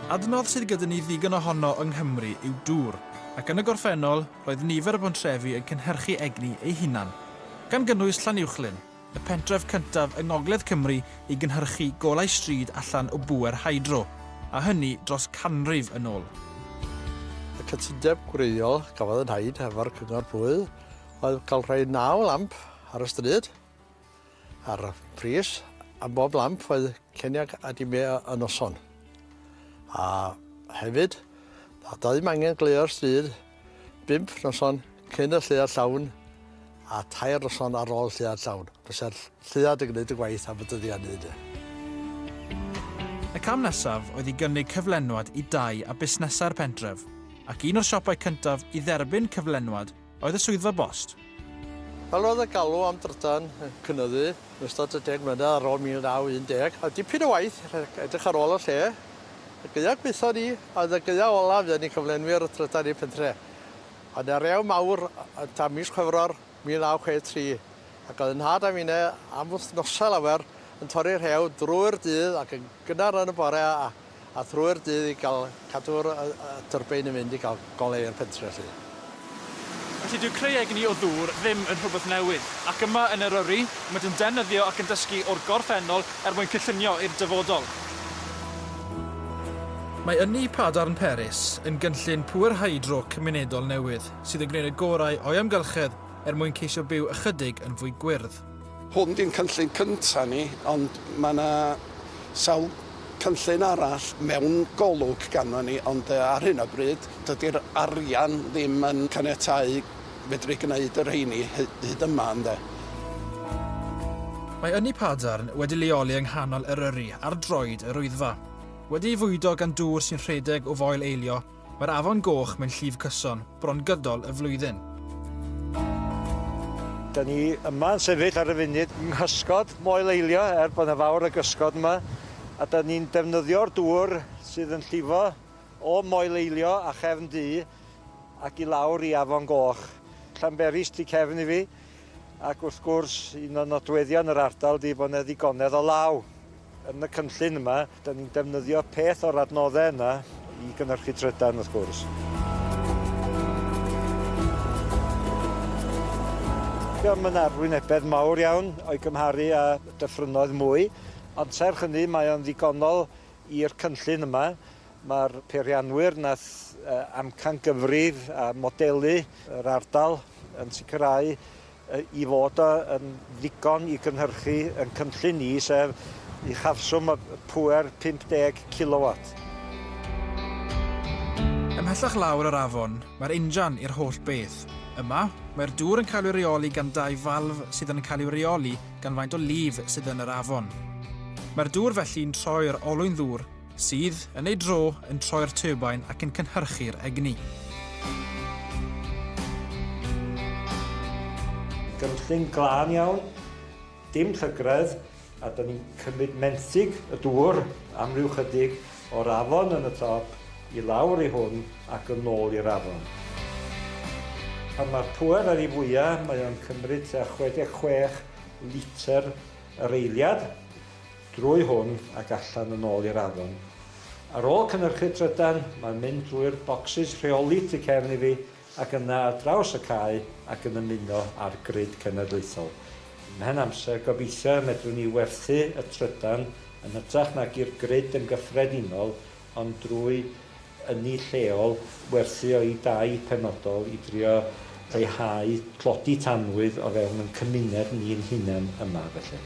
Adnodd sydd gyda ni ddigon ohono yng Nghymru yw dŵr, ac yn y gorffennol roedd nifer y bontrefi yn cynhyrchu egni eu hunan, gan gynnwys Llanuwchllyn, y pentref cyntaf yng ngogledd Cymru i gynhyrchu golau stryd allan o bŵer hydro, a hynny dros canrif yn ôl. Y cytundeb gwreiddiol gafodd ei wneud hefo'r Cyngor Bwyd oedd cael rhoi naw lamp ar y stryd a'r pris am bob lamp oedd ceniag a dime y noson. A hefyd, a doedd ddim angen gleuo'r stryd bimp noson cyn y lleuad llawn a tair noson ar ôl lleuad llawn. Bysa'r lleuad yn gwneud y gwaith am y dyddiau ni. De. Y cam nesaf oedd i gynnig cyflenwad i dai a busnesau'r pentref, ac un o'r siopau cyntaf i dderbyn cyflenwad Oedd y swyddfa bost? Wel, roedd y galw am drydan yn cynyddu yn ystod y deg mlynedd ar ôl 1910, a dipyn o waith rhag edrych ar ôl y lle. Y gaeaf gwaethaf ni a oedd y gaeaf olaf fuon ni cyflenwyr y trydan i'r pentre. Ond y rew mawr oedd tan mis Chwefror 1963, ac oedd 'y nhad a finne am wythnosau lawer yn torri rhew drwy'r dydd ac yn gynnar yn y bore a a thrwy'r dydd i gael cadw'r y y tyrbin yn mynd i gael goleu'r pentre 'lly. Felly dyw creu egni o ddŵr ddim yn rhywbeth newydd, ac yma yn Eryri, maent yn defnyddio ac yn dysgu o'r gorffennol er mwyn cyllunio i'r dyfodol. Mae ynni Padarn Peris yn gynllun pŵer hydro cymunedol newydd sydd yn gwneud y gorau o'i amgylchedd er mwyn ceisio byw ychydig yn fwy gwyrdd. Hwn di'n cynllun cynta ni ond mae 'na sawl cynllun arall mewn golwg ganddo ni ond yy ar hyn o bryd dydi'r arian ddim yn caniatáu fedru gneud y rheini hy- hyd yma ynde? Mae Ynni Padarn wedi leoli yng nghanol Eryri ar droed yr Wyddfa. Wedi'i fwydo gan dŵr sy'n rhedeg o Foel Eilio, Mae'r Afon Goch mewn llif cyson, bron gydol y flwyddyn. Da ni yma yn sefyll ar y funud yng nghysgod Moel Eilio, er bod yna fawr o gysgod yma, a da ni'n defnyddio'r dŵr sydd yn llifo o Moel Eilio a chefn du ac i lawr i Afon Goch. Llanberis tu cefn i fi, ac wrth gwrs un o nodweddion yr ardal ydi bod 'na ddigonedd o law. Yn y cynllun yma, da ni'n defnyddio peth o'r adnoddau yna i gynhyrchu trydan wrth gwrs. Mae yna arwynebedd mawr iawn o'i gymharu â dyffrynnoedd mwy, ond serch hynny mae o'n ddigonol i'r cynllun yma. Mae'r peirianwyr nath amcan gyfrif a modelu yr ardal yn sicrhau i fod yn ddigon i gynhyrchu ein cynllun ni, sef uchafswm y pŵer 50 kilowat. Ymhellach lawr yr afon, mae'r injan i'r holl beth. Yma, mae'r dŵr yn cael ei reoli gan dau falf sydd yn cael ei reoli gan faint o lif sydd yn yr afon. Mae'r dŵr felly'n troi'r olwyn ddŵr sydd, yn ei dro, yn troi'r turbine ac yn cynhyrchu'r egni. Gynllun glân iawn, dim llygredd, a dyna ni'n cymryd menthyg y dŵr am ryw chydig o'r afon yn y top i lawr i hwn ac yn ôl i'r afon. Pan mae'r pŵer ar ei fwya, mae o'n cymryd tua 66 litr yr eiliad. drwy hwn ac allan yn ôl i'r afon. Ar ôl cynhyrchu trydan, mae'n mynd drwy'r bocsys rheoli tu cefn i fi ac yna ar draws y cae ac yn ymuno â'r grid cenedlaethol. Ymhen amser, gobeithio y medrwn ni werthu y trydan yn hytrach nag i'r grid yn gyffredinol ond drwy ynni lleol, werthu o'u dai penodol i drio lleihau tlodi tanwydd o fewn ein cymuned ni'n hunain yma felly.